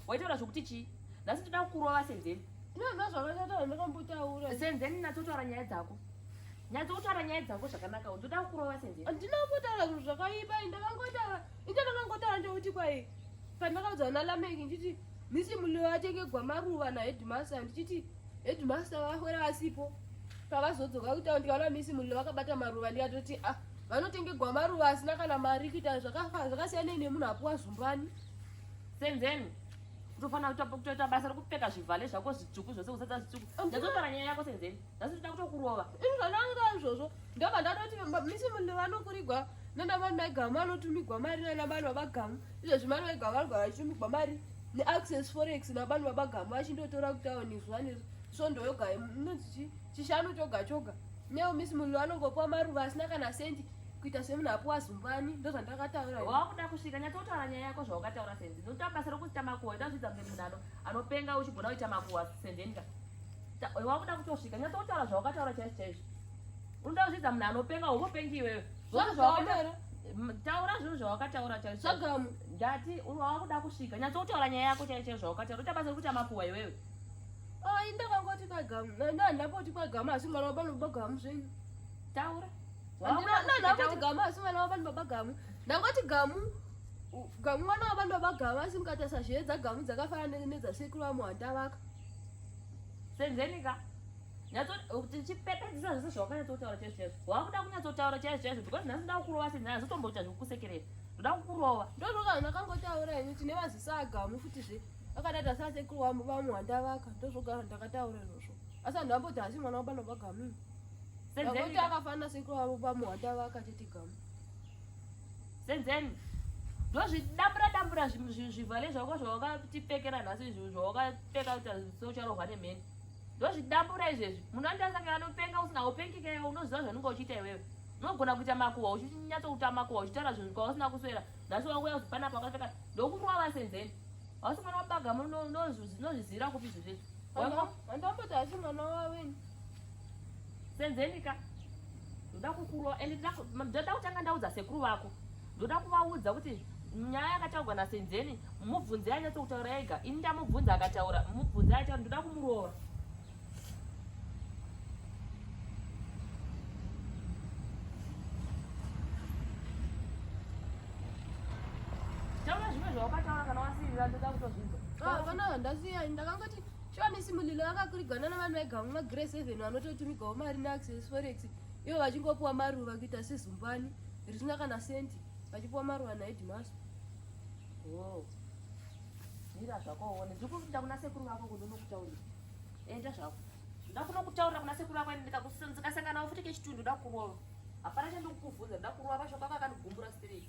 waitaura zvokuti chii nhasi toda kukurova senzeni senzeni natsotaura nyaya dzako nyadzi kutaura nyaya dzako zvakanaka ndoda kukurova senzeni handina kutaura zvinhu zvakaipa ndakangotaura ita ndakangotaura ndeuti kwai pandakaudza vana lameki ndichiti misi muliwo atenge gwamaruva nahedmaster ndichiti hedmaster vafwera vasipo pavazodzoka kutaura ndikaona misi muliwo vakabata maruva ndikatoti ah vanotenge gwamaruva asina kana mari kuita zvakasiyanei nemunhu apuwa zumbani Senzeni unofanira kutopa kutoita basa rekupfeka zvivhale zvako zvitsvuku zvose kuzadza zvitsvuku ndazotora nyaya yako senzeni nhasi tinoda kutokurova inzvananga izvozvo ndobva ndatoti misi munhu vanokurigwa nanamani maigama vanotumigwa mari nanamani vabagamu izvezvi mani vaigama vanogara vachitumigwa mari neaccess forex namani vabagamu vachindotora kutaoni zuva neri so ndoyoga inonzi chii chishanu choga choga neo misi munhu anongopiwa maruva asina kana sendi kuita semunhu apiwa zumbani ndo zvandakataura wakuda kusvika nyatsotaura nyaya yako zvawakataura sendi ndotaa basa rokuita makuhwa ndazvidza mbe munhu ano anopenga uchigona kuita makuhwa sendenka wakuda kutosvika nyatsotaura zvawakataura chaizvo chaizvo unoda kuzvidza munhu anopenga umopengi iwewe zvose zvawakataura taura zvinhu zvawakataura chaizvo ndati wakuda kusvika nyatsotaura nyaya yako chaizvo chaizvo zvawakataura utabasa rokuita makuhwa iwewe Ah, inda kwangoti kwagamu. Na na na poti kwagamu asi mwana wabalo bagamu zvenyu. Taura. Wangona na na poti gamu asi mwana wabalo baba gamu. Ndangoti gamu gamu mwana wabalo baba gamu asi mukata sazhedza gamu dzakafanana nedza sekuru wa muhanda vaka. Senzeni ka. Nyato tichipeta dzisa zvese zvawakanya totaura chese chese. Wakuda kunyatso taura chese chese because nasi ndaku kurova senzeni nasi tomboita zvekukusekerera. Ndaku kurova. Ndozvokana nakangotaura ini tine vazisa gamu futi zve. akadada sa sekuru wambo vamwe wandavaka ndozvogara ndakataura izvozvo asi vanhu vamboti hasi mwana wabana vagamini akuti akafanira sekuru wavo vamwe wandavaka tete gamu senzeni ndozvidambura dambura zvivhale zvako zvawakatipfekera nhasi izvi zvawakapfeka kuti socharohwa nemheni ndozvidambura izvezvi munhu andasaka anopenga usina upengeka iwe unoziva zvanunga uchiita iwewe unogona kuita makuhwa uchinyatsokuta makuhwa uchitaura zvinhu kwausina kuswera nhasi wakuya kuti panapa wakapfeka ndokurova vasenzeni hausi mwana wabaga nozvizivira kupi zvizvezvi wandomboti asi mwana waweni senzeni ka ndoda kukurova and ndoda kutanga ndaudza sekuru vako ndoda kuvaudza kuti nyaya yakataurwa nasenzeni mubvunze yanyatso kutaura ega ini ndamubvunza akataura mubvunze ayataura ndoda kumurova zvawakataura kana wasiirira ndoda kutozvinzwa ah, vana ndasiya ndakangoti shoni simulilo vakakurigana navanhu vaigama magrace even vanototumigawo mari neaccess forex ivo vachingopiwa maruva kuita sezumbani risina kana senti vachipiwa maruva naedmas oh. mira zvako uone ndiri kuita kuna sekuru vako kundonokutaurira enda zvako ndakuno kutaurira kuna sekuru vako ini ndikasangana ufuti kechitundu ndakurova hapana chandikukuvhunza ndakurova mashoko ako akanigumbura straight